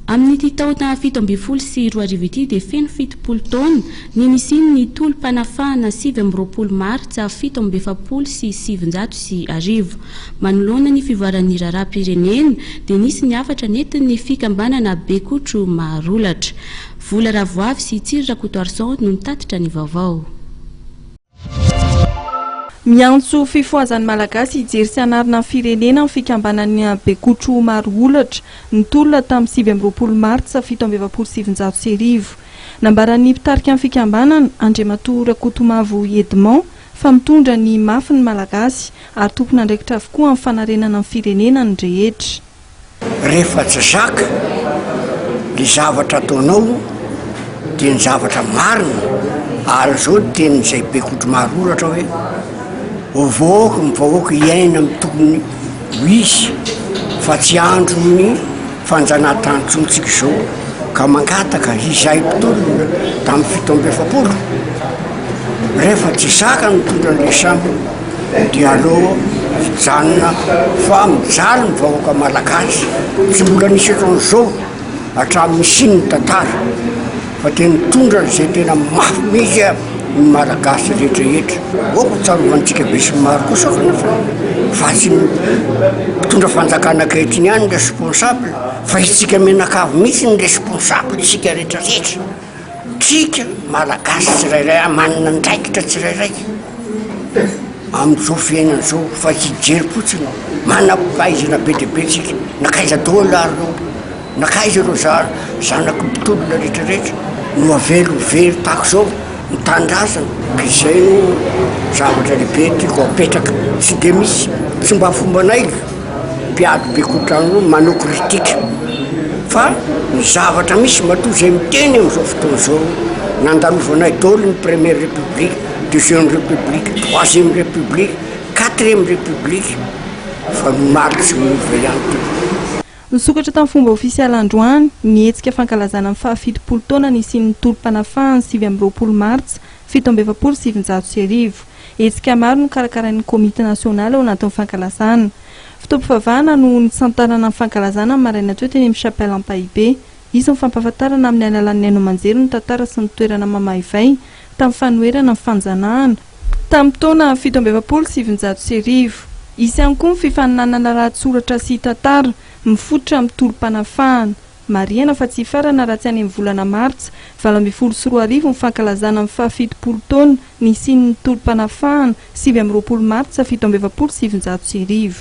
Amin'ity taona fito ambin'ny folo sy roa arivo ity dia feno fitopolo taona ny nisian'ny tolom-panafahana sivy amby roapolo martsa fito amby efapolo sy sivinjato sy arivo. Manoloana ny fivoaran'ny raharaham-pirenena dia nisy ny hafatra nentin'ny fikambanana Bekotro Maharolatra. Vola Ravoavy sy Tsiry Rakotoarison no nitatitra ny vaovao. Miantso fifohazan'ny Malagasy hijery sy hanarina ny firenena ny fikambanan'ny Bekotro maro olatra, nitolona tamin'ny sivy amby roapolo martsa fito amby efapolo sy sivinjato sy arivo. Nambaran'ny mpitarika ny fikambanana, Andriamatoa Rakotomavo Edmond, fa mitondra ny mafy ny Malagasy ary tompon'andraikitra avokoa amin'ny fanarenana ny firenena ny rehetra. Rehefa tsy zaka ny zavatra ataonao dia ny zavatra marina ary izao ny tenin'izay be kodro maro oratra hoe ovaovy ny vahoaka hiaina amin'ny tokony ho izy fa tsy andro ny fanjanahantanytsontsika izao ka mangataka izay mpitolona tamin'ny fito amby efapolo rehefa tsy zaka ny tondra ny samy Dia aleo hijanona fa mijaly ny vahoaka malagasy, tsy mbola nisy otran'izao hatramin'ny nisian'ny tantara fa dia nitondra izay tena mafy mihitsy ny malagasy rehetrarehetra. Aoka hotsarovan-tsika besinimaro kosa kanefa fa tsy ny mpitondra fanjakana ankehitriny ihany ny responsable fa isika mianakavy mihitsy ny responsable isika rehetrarehetra. Tsika Malagasy tsirairay ary manana andraikitra tsirairay amin'izao fiainana izao fa hijery fotsiny aho, manam-pahaizana be dia be tsika, nankaiza daholo ary ireo, nankaiza ireo zanako mpitolona rehetra rehetra no avela ho very tahaka izao ny tanindrazana, ka izay no zavatra lehibe tiako apetraka, tsy dia misy, tsy mba fombanay. Mpiady be kotrany roa manao critique fa ny zavatra misy matoa izay miteny amin'izao fotoana izao nandalovanay daholo ny première république, deuxième république, troisième république, quatrième république fa ny marx no miova ihany tompoko. Nisokatra tamin'ny fomba ofisialy androany ny hetsika fankalazana ny fahafitopolo taona nisian'ny tolom-panafahany sivy amby roapolo martsa fito amby efapolo sy sivinjato sy arivo. Hetsika maro no karakarain'ny Komity Nasionaly ao anatin'ny fankalazana. Fotoam-pivavahana no nisantarana ny fankalazana ny maraina teo teny amin'ny Chapelle Ampahibe. Hisy ny fampahafantarana amin'ny alalan'ny haino aman-jery ny tantara sy ny toerana mamaivay tamin'ny fanoherana ny fanjanahana, tamin'ny taona fito amby efapolo sy sivinjato sy arivo. Hisy ihany koa ny fifaninanana lahatsoratra sy tantara, mifototra amin'ny tolom-panafahana. Marihana fa tsy hifarana raha tsy any amin'ny volana martsa valo ambin'ny folo sy roa arivo ny fankalazana ny fahafitopolo taona nisian'ny tolom-panafahana, sivy amby roapolo martsa fito amby efapolo sy sivinjato sy arivo.